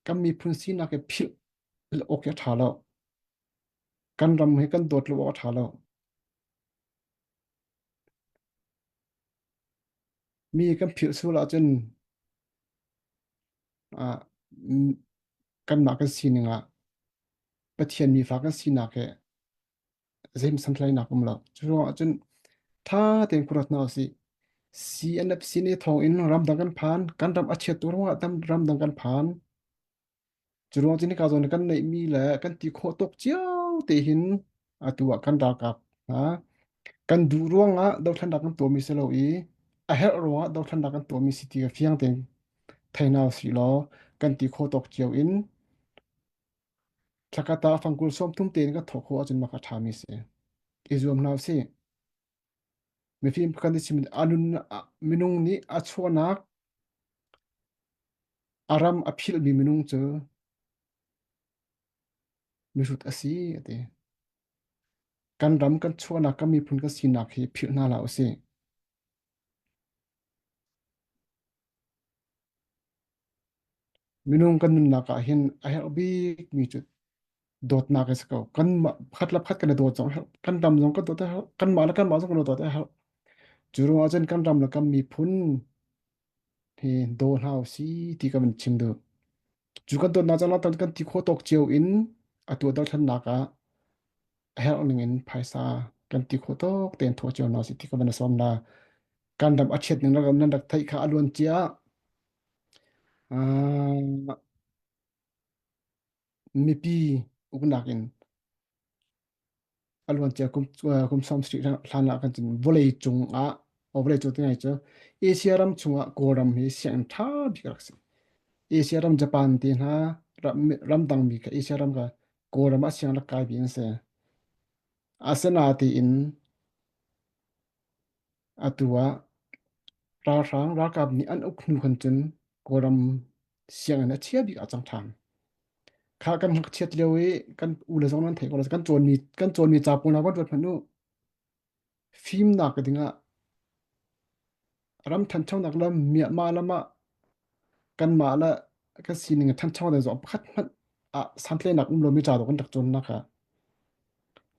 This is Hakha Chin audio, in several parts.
kan miphun sinak hi philh awk hi a ṭha lo. Kan ram hi kan dawt lo awk a ṭha lo. Mi kan philh sual ahcun ah, kanmah kan sining ah Pathian mi fa kan sinak hi Zeim santhlainak um lo. Cu ruangah cun tha tein kurat hna usih. CNFC nih thawng in ramdang kan phan. Kan ram a chiat tu ruangah tam ramdang kan phan. Cu ruang cun hika zawn kan neihmi le kan ti khawh tuk cio te hin atu ah kan ralkap hna kan duh ruangah dothlannak kan tuahmi si lo i a herh ruangah dothlannak kan tuahmi si ti fiang tein thei hna usih law kan ti khawh tuk cio in Thla khat ah fangkul sawmthum tein ka thawh khawh ahcun mak a ṭhami si. I zuam hna u sih. Mifim pakhat nih chim a nun a- minung nih a chuahnak a ram a philhmi minung cu mihrut a si a ti. Kan ram, kan chuahnak, kan miphun kan sinak hi philh hna hlah u sih. Minung kan nunnak ah hin a herh bik mi cu dawtnak a si ko. Kanmah khat le khat kan i dawt zong a herh. Kan tam zong kan dawt a herh. Kanmah le kanmah zong kan dawt a herh. Cu ruangah cun kan ram le kan miphun hi daw hlah u si ti kan chim duh. Cu kan dawtnak caah tan kan ti khawh tawk cio in a tuahter thannak ah a herh ning in phaisa kan ti khawh tawk tein thawh cio hna si ti ka van i sawm na. Kan ram a chiat ning ram nan rak theih kha a luan cia ah mipi uknak in Aluancia kum kum som street hlan ah kan cun vawlei cung ah o vawlei cung tingai cu Asia ram chung ah Kawlram hi sianginn ṭha bik rak si. Asia ram Japan ti hna ramdang mi ka Asia ram ka Kawlram ah sianginn rak kai bi an si. Asana ti in Atu ah ralhrang ralkap nih an uk hnu khan cun Kawlram sianginn a chia bik ah a cang ṭhan. Kha kan hak chiat lio i kan u le zong nan theih ko lo kan cawnmi kan cawnmi ca pawl hna van ruat hmanh u. Fimnak ka ding ah ram ṭhanchonak le Myanmar lam ah kanmah le kan sining ṭhancho ding zong pakhat hmanh ah santleinak um lomi ca zong kan rak cawnnak kha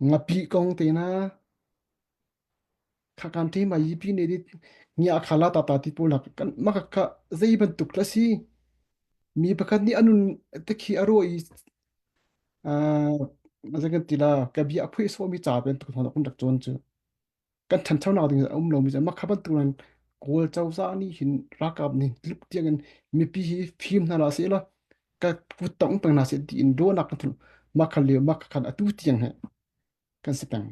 ngapi kong te na Khakam thei mai yipi nih dit ngiah kha la tata ti pawl hlah. Kan maka kha zei bantuk hla si. Mi pakhat nih a nun te khi a ruah i ah azai kan ti la ka bia a phui suami ca bantuk hna kun rak tuan cu. Kan than thau nak ding a um lo mi cu makha bantuk nan Kawl cozah nih hin rakap nih lup tiang in mipi hi fim hna la se la ka kut tong peng hna se ti in ruahnak kan thun makha le makha khan atu tiang he kan si peng.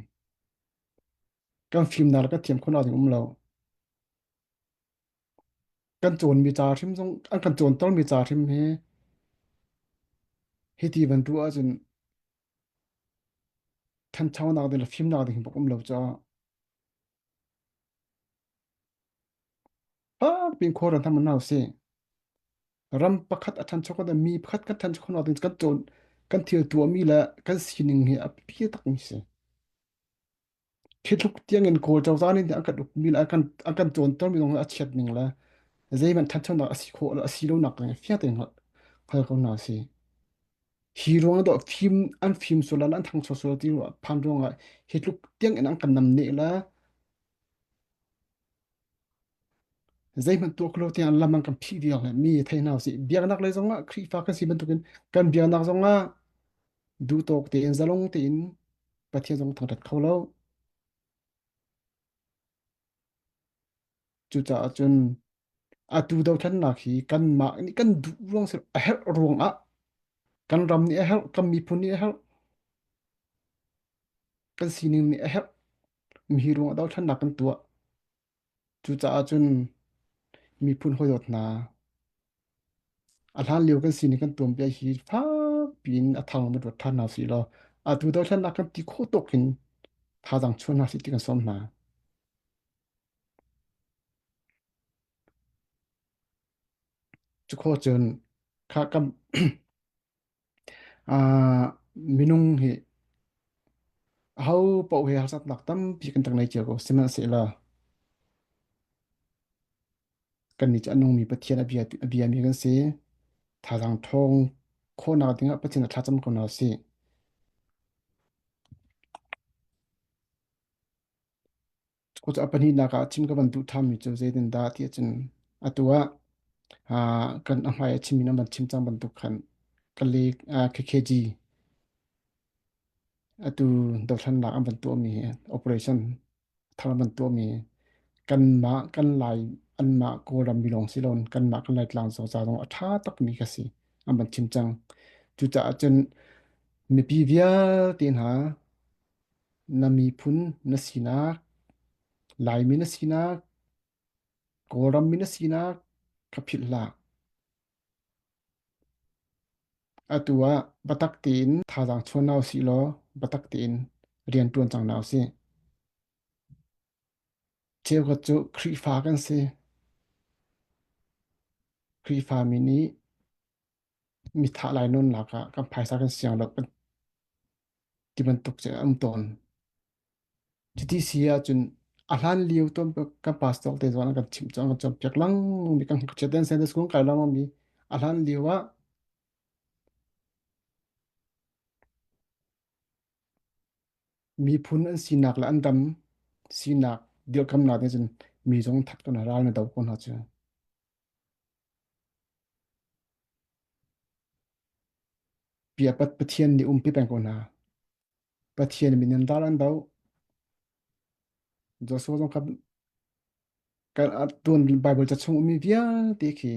Kan fimnak le kan thiam khawhnak ding um lo. Kan cawnmi ca hrim zong, an kan cawntermi ca hrim hi, hiti bantuk ahcun thanchonak ding le fimnak ding bak um lo caah. Fapin khuar an tham hna usih. Ram pakhat a ṭhancho kan mi pakhat kan ṭhancho khawh ding kan cawn kan thil tuahmi le kan sining hi a biapi takmi a si. Thitluk tiangin Kawl cozah nih an kan ukmi le an kan cawntermi zong a chiat ning le zeihmanh ṭhanchonak a si khawh a si lonak ding fiang tein hngal ko hna usih. Hi ruang ah fim an fim sual le an thangcho sual ti phan ruang ah hitluk tiangin an kan namneh le Zeihmanh tuah kho lo tiang lam an kan phih diak le mi thei hna si. Biaknak lei zongah Khrihfa kan si bantukin kan biaknak zongah duhtawk tein zalong tein Pathian zong thangṭhat kho lo. Cucaah cun atu dothlannak hi kanmah nih kan duh ruang si a herh ruangah kan ram nih a herh, kan miphun nih a herh. kan sining nih a herh mi ruang a dothlannak kan tuah cucaah cun miphun hawidawt hna a hlan lio kan sining kan tuan bia hi fakpi in a thang ma ruat ṭhan hna si law atu dothlannak kan ti khawh tawk in thazaang chuan hna si ti kan sawm hna cu kho cun kha kam Minung hi ahopaoh he harsatnak tampi kan tang nei cio ko. Sihmanhsehlaw kannih cu a nungmi Pathian a biami kan si. Thazaang ṭhawng khawhnak dingah Pathian a thlacam ko hna sih. Cucu a pahnihnak ah chim ka van duh thami cu zeitindah tiah cun atu ah ah, kan a hmai a chim in a van chim cang bantuk khan ka lek ah, KKG atu dothlannak an van tuahmi hi operation thar an van tuahmi hi kanmah kan lai anmah kawlram milawng si loin kanmah kan laitlang zoza zong a ṭha takmi ka si an van chim cang cucaah cun mipi vialte hna Na miphun na sinak, Laimi na sinak, Kawlram mi na sinak ka philh hlah. Atu ah batak tein thazaang chuan hna usih law batak tein rian ṭuan cang hna usih. Cheukhat cu Khrihfa kan si. Khrihfa mi nih Mi thah lai nunnak ah kan phaisa kan siang lo ti bantuk cu a um tawn. Cuti si ahcun a hlan lio ton kan pastor te zuan an kan chim cu an kan cawnpiak lang mi kan hngakchia ten Sunday school kai lo mi a hlan lio ah miphun an sinak le an dam sinak dirkamnak nih cun mi zong that kan ral na do ko hna cu. Biapat Pathian nih umpi peng ko hna. Pathian min in dar an do. Joshua zong khan kan tuan Bible ca chung mi vialte khi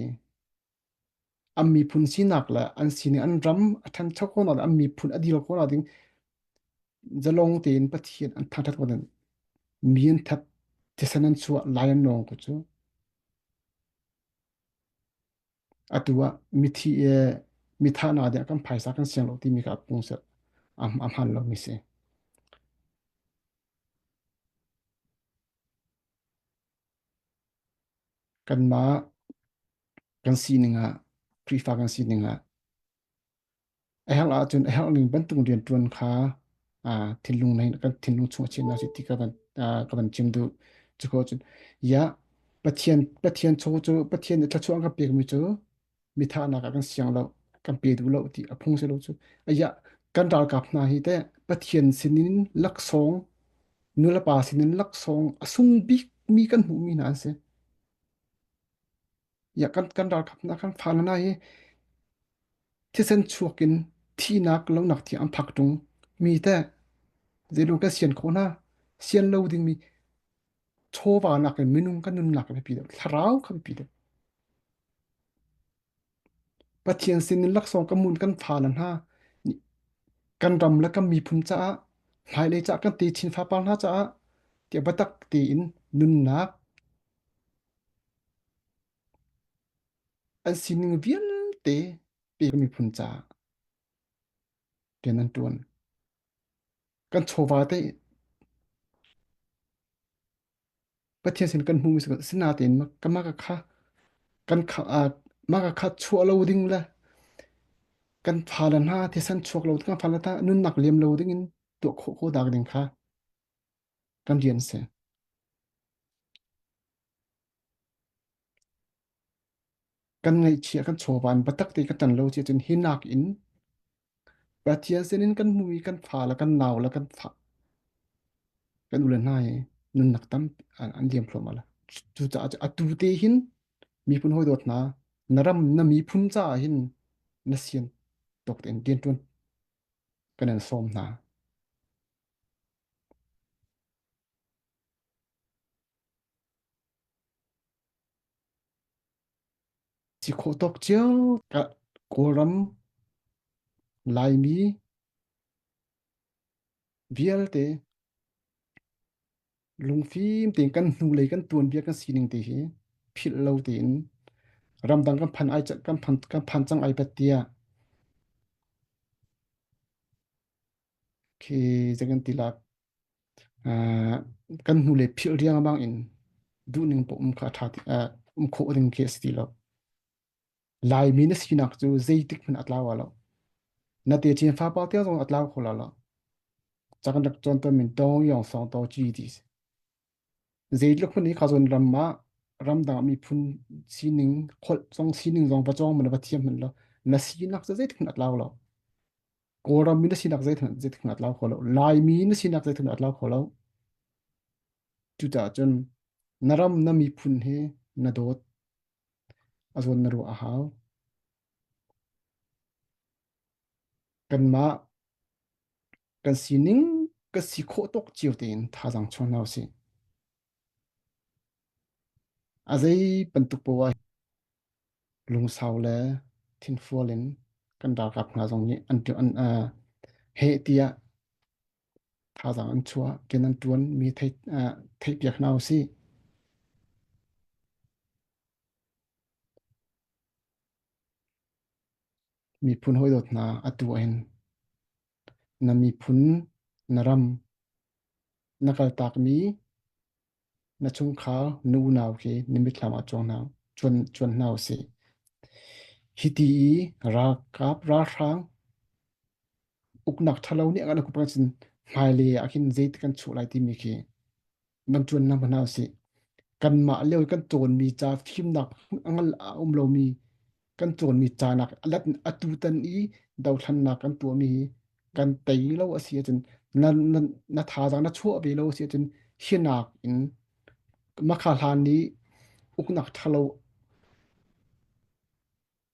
am miphun sinak le an sining an ram a ṭhancho ko na am miphun a dil ko na ding zalong tein Pathian an thangṭhat ko den mi an that thisen an chuah lai an nong ko cu Atu ah mithi i mithahna dih ah kan phaisa kan siang lo timi kha a pung seh, a hmaan lomi si. Kanmah kan sining ah, Khrihfa kan sining ah. A herh ahcun a herhning bantuk rianṭuan kha thinlung nain kan thinlung chung a chiah hna sih ti ka van ka van chim duh. Cuka ahcun ia Pathian Pathian chaw cu Pathian nih thluachuah an kan pekmi cu mithahnak ah kan siang lo, kan pe duh lo ti a phung si lo cu. A ia kan ralkap hna hi teh Pathian sinin laksawng, nulepa sinin laksawng a sung bikmi kan hmuhmi hna an si. Ya kan kan ralkap hna kan fa le hna hi thisen chuak in thihnak lonak thi an phak ṭung mi te zeilung kan sian khawh hna sian lo dingmi chawva nakin minung kan nunnak a biapi deuh thlarau kha biapi deuh Pathian sin in laksawng ka mun kan fa le hna kan ram le kan miphun caah hlailei caah kan te chin fa par hna caah ti batak tein nunnak An sining vialte pek miphun caah rian an ṭuan. Kan chawva te Pathian sin kan hmu mi si natein ka mah ka kha kan kha mah ka kha chuah lo ding le kan fale hna thisen chuak lo kan fale ta nunnak liam lo ding in tuah khawh ko dak ding kha kan rian si. Kan ngaihchia kan chawvan batak te ka tan lo si cun hi nak in Pathian sinin kan hmu i kan fa le kan nau le kan fa kan ule hna i nunnak tam an liam thluahmah lo. Cucaah atu te hin miphun hawi dawt hna na ram na miphun caah hin na sian tok tein rian ṭuan kan in sawm hna. Si khawh tawk cio ah Kawlram, Laimi vialte lungfim tein kan hnulei kan tuanbia kan sining te hi philh lo tein ramdang kan phan ai kan phan kan phan cang ai bat tiah khi zagan tilak kan hnule philh riang bangin duhning poh um kha a ṭha ti um khawh ding khi a si ti lo. Laimi na sinak cu zeitik hmanh a tlau wa lo. Na te chin fa pa tia zong a tlau kho la lo. Cak nak chon ton min tong yong song to chi ti si. Zeitluk hmanh i khuazon ram ah ramdang ah miphun sining, holh zong sining zong va cawng hmanh va thiam hmanh law na sinak cu zeitik hmanh a tlau lo. Kawlram mi na sinak zeithmanh zeitik hmanh a tlau kho lo. Laimi na sinak zeithmanh a tlau kho lo. Cucaah cun na ram na miphun hi na dawt a zawn na ruah a hau. kanmah kan sining kan si khawh tawk cio tein thazaang chuan hna usih. A zei bantuk poah lungsau le thinfual in kan ralkap hna zong nih an an uh, he tia thazaang an chua ken an tuan mi thei uh, thei piak hna usi Miphun hawidawt hna atu ah hin na miphun, na ram, na kaltakmi na chungkhar, nu unau khi na mitthlam ah cuan hna, cuan, cuan hna usih. Hiti i ralkap, ralhrang, uknak ṭhalo nih a kan kuat cun hmailei ah khin zeitik kan chuah lai timi khi nan ṭuannak hna sih. Kanmah lio i kan cawnmi ca fimnak a ngal a um lomi kan cawnmi ca nak alat atu tan i dothlannak kan tuahmi hi kan tei lo a si ahcun na, na, na thazaang na chuah ve lo a si ahcun hinak in makha hlan i uknak ṭhalo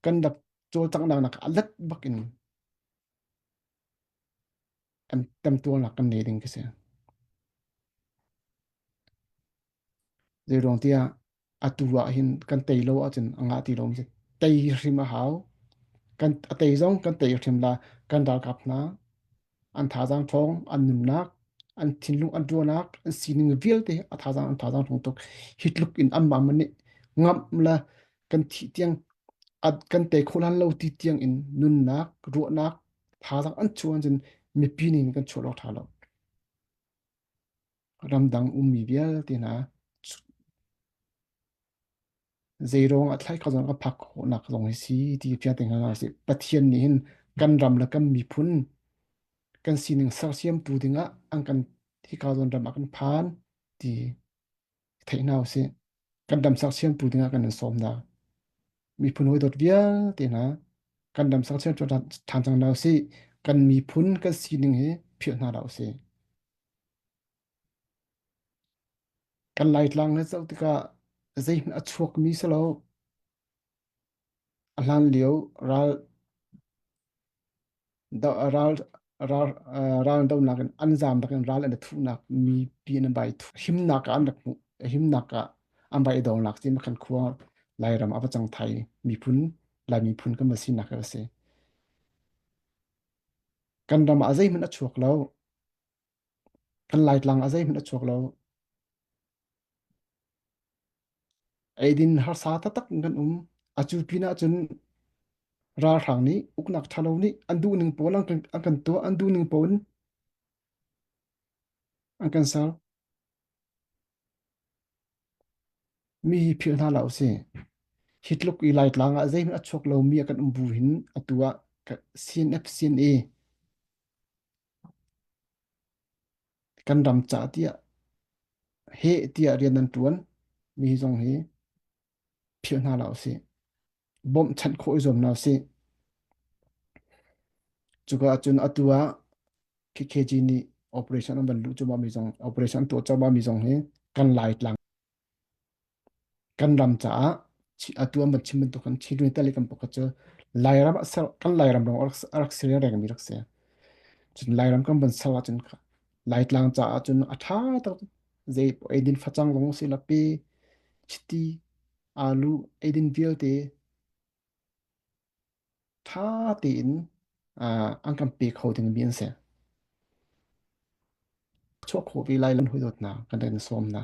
kan rak cawlcanghnak nak alat bakin Kan temtualnak kan ngei ding ka si. Zeiruang tiah atu ah hin kan tei lo ahcun a ngah ti lomi si. Tei hi hrim a hau. Kan a tei zong kan tei hrim la kan ralkap hna an thazang thawng an nunnak an thinlung an tuanak an sining vialte a thazang an thazang thawng tuk hi tluk in an mam nih ngam la kan thi tiang at kan te kholan lo ti tiang in nunnak ruahnak Thazang an chuan cun mipi nih kan chuah lo tha lo. Ramdang ummi vialte hna zeirong a thlai kho zong ka phak khawhnak zong hi si ti pia te hna si. Pathian nih hin kan ram le kan miphun kan sining sersiam tu dingah an kan hi ka zon ram a kan phan ti. theih hna u sih. Kan dam saksian pu dingah kan in sawm da. Miphun hoi dot vialte hna kan dam saksian cu than cang hna u sih. Kan miphun kan sining hi philh hna da u sih. Kan laitlang na zoh tikah zeihmanh a chuakmi si lo. A hlanlio raldohnak in an zamnak in ral an i thuhnak mipi an bai thuh. Himnak ah an rak hmuh. Himnak ah an bai i dongnak cu makhan khua Lairam a va cang Thai miphun, Laimi phun kan va sinak hi a si. Kan ram ah zeihmanh a chuak lo. Kan Laitlang ah zeihmanh a chuak lo. Eidin harsa taktak kan um. A cu pinah cun ralhrang nih uknak ṭhalo nih an duhning pawl an kan, an kan tuah, an duhning pawl in an kan ser. Mi hi philh hna la u si. Hi tluk i Laitlang ah zeihmanh a chuak lomi a kan um bu hin atu ah CNF CNA Kan ram ca tiah heh tiah rian an ṭuan mi zong hi philh hna hlah usih. Bawmhchanh khawh i zuam hna usih. Cuka ahcun atu ah KKG nih operation an van luh cuahmah mi zong, operation an tuah cuahmah mi zong hi kan Laitlang Kan ram caah a tu an van chim bantuk khan Chilwell te le kan pakhat cu Lairam a ser kan Lairam lawng a rak si le rengmi rak si. Cun Lairam kan van ser ahcun Laitlang caah cun a ṭha tuk. Zei eidin facang lawng si lapi chiti alu eidin vialte ṭha tein an kan pe kho dingmi an si. Chuah khawh ve lai lam hawi dawt hna kan rak in sawm hna.